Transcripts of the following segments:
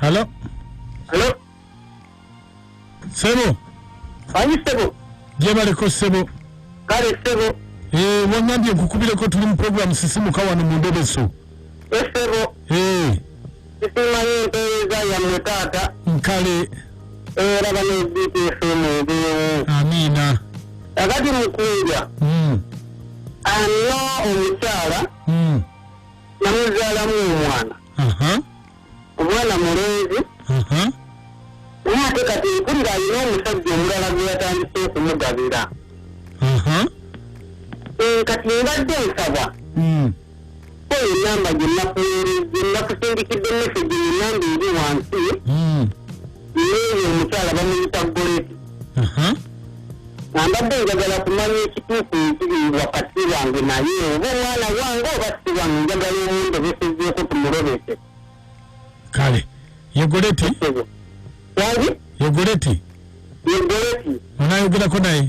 halo Hello? sebo Ani ssebo? gyebaleko sebo Kale ssebo. Eh, wangambye nkukubireko tuli mu programu sisimuka wano mu ndobeso Ye ssebo. Eh, Sisimanyi empeereza yammwe taata. nkale Era bano BPFM ebeewo. amiina Kakati mukunja. Mm, Alina omukyala mm. namuzaalamu omwana. aha, omwana mulenzi aha. naye ate kati mpulira alina omusajja omulala gwe yatandise okumugabira aha. Eh, kati mbadde nsaba Mm. oyo enamba gyenakuwereze nakusindikidde mesegi enamba eri wansi Mm. Yeeyo omukyala bamuyita Goleti. Nambadde njagala kumanya ekituufu ekiri wakati wange naye oba omwana wange oba si wange njagala omundobesezeeko tumulobese. Kale ye Goleti? Wangi? Ye Goleti? Ye Goleti. Onayogerako naye?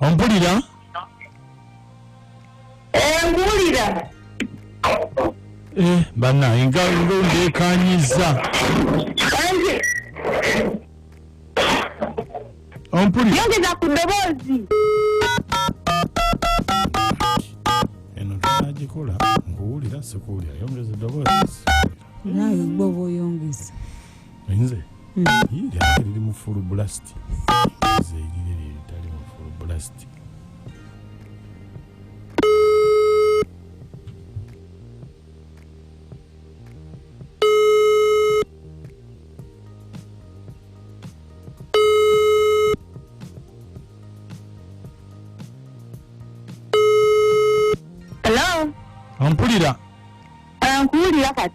ompulira enkuwulira eh, bana nga ndekanyiza ompulira yongeza ku ddoboozi eno tunagikola nkuwulira sikuwulira yongeza eddoboozi nawe gwe oba oyongeza nze lyali liri mu full blast nze erire lye litali mu full blast Hello? Ampulira. Ankuwulira kati.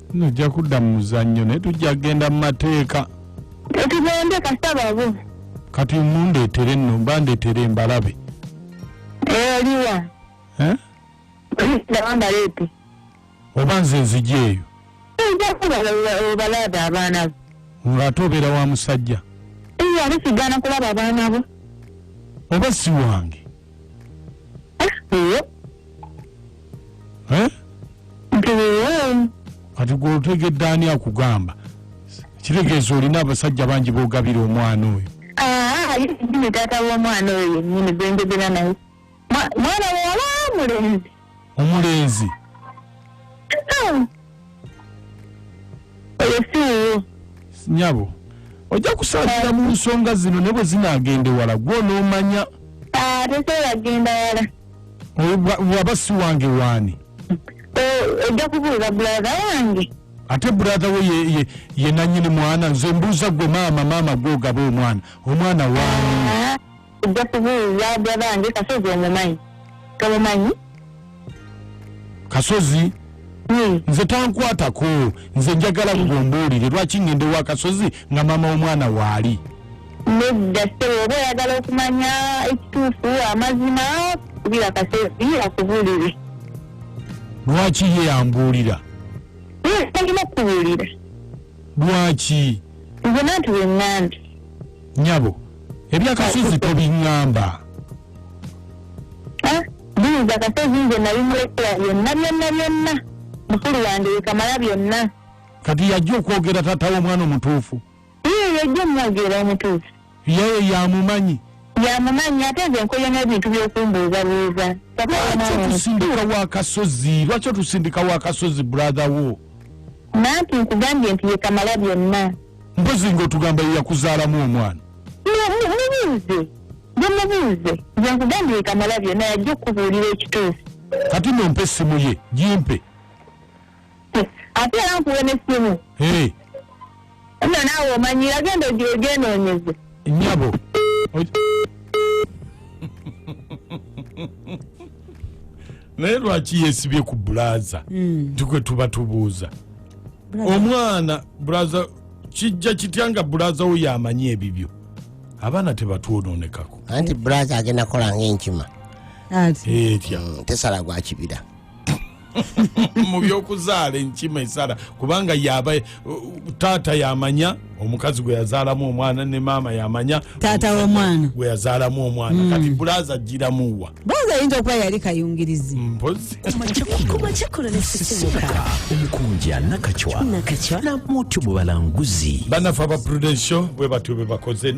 nojja kudda mu muzannyo naye tujja kugenda mu mateeka tugende kasababo kati mundeetere nno mba ndeetere mbalabe oliwa eh? ndabambaleete oba nze nzija eyo obalabe abaana bo ng'ate obeera wa musajja ate sigana kulaba abaana bo oba si wange Eh? kati gwe otegedde ani akugamba kitegeeza olina abasajja bangi bogabira omwana oyo ah, taata womwana oyo yenyini gwenjogera naye mwana wala mulenzi omulenzi nyabo ojja kusaasira mu nsonga zino ne bwe zinaagenda ewala gwe onoomanya ah, tekyeyagenda wala waba si wange waani ojja kubuuza bulaza wange ate brother we ye, ye, ye nanyini mwana nze mbuuza gwe maama maama gwogaba omwana omwana waani ah. ojja kubuulira byabange kasozi omumanyi tomumanyi kasozi hmm. nze tankwatako nze njagala gwe ombuulire lwaki ngende wa kasozi nga maama w'omwana waali nedda sebo oba oyagala okumanya ekituufu amazima kubira kasozi akubuulire lwaki ye yambuulira hmm, talina okubuulira lwaki nze nanti wenandi nyabo ebya kasozi tobingamba eh, buyinza kasozi nze nabimulekera byonna byonna byonna mukulu wange yekamala byonna kati yajja okwogera tata womwana omutuufu iye yajja omwogera omutuufu yeye yamumanyi yamumanyi ate nze nkoye n'ebintu byokumbuuzabuuza lwaki otusindika wakasozi lwaki otusindika wakasozi brother wo nanti nkugambye nti yekamala byonna mpozi nga otugamba yeyakuzaalamu omwana mubuuze gemubuuze gyenkugambye ekamala byona yajja okukubuulira ekituufu kati nompa essimu ye gimpe ate era nkuwe nessimu nno naawe omanyi yagenda ogenoonyeze nyabo naye lwaki yesibye ku bulaza hmm. nti kwe tuba tubuuza omwana bulaza kijja kitya nga bulaza wo yamanyi ebibyo abaana tebatwononekako anti bulaza agenda kola ngaenkima etya hmm, tesala gwakibira mu byokuzaala enkima esala kubanga yaba taata yamanya omukazi gwe yazaalamu omwana ne maama yamanya taata womwana gwe yazaalamu omwana mm. kati bulaza ajjiramuwa bulaza ayinza okuba yali kayungirizi mpozikumacakolonesisimuka omukunja nakacwa nakacwa namutyo bwe balanguzi banafe aba prudensio bwe batyo bwe bakoze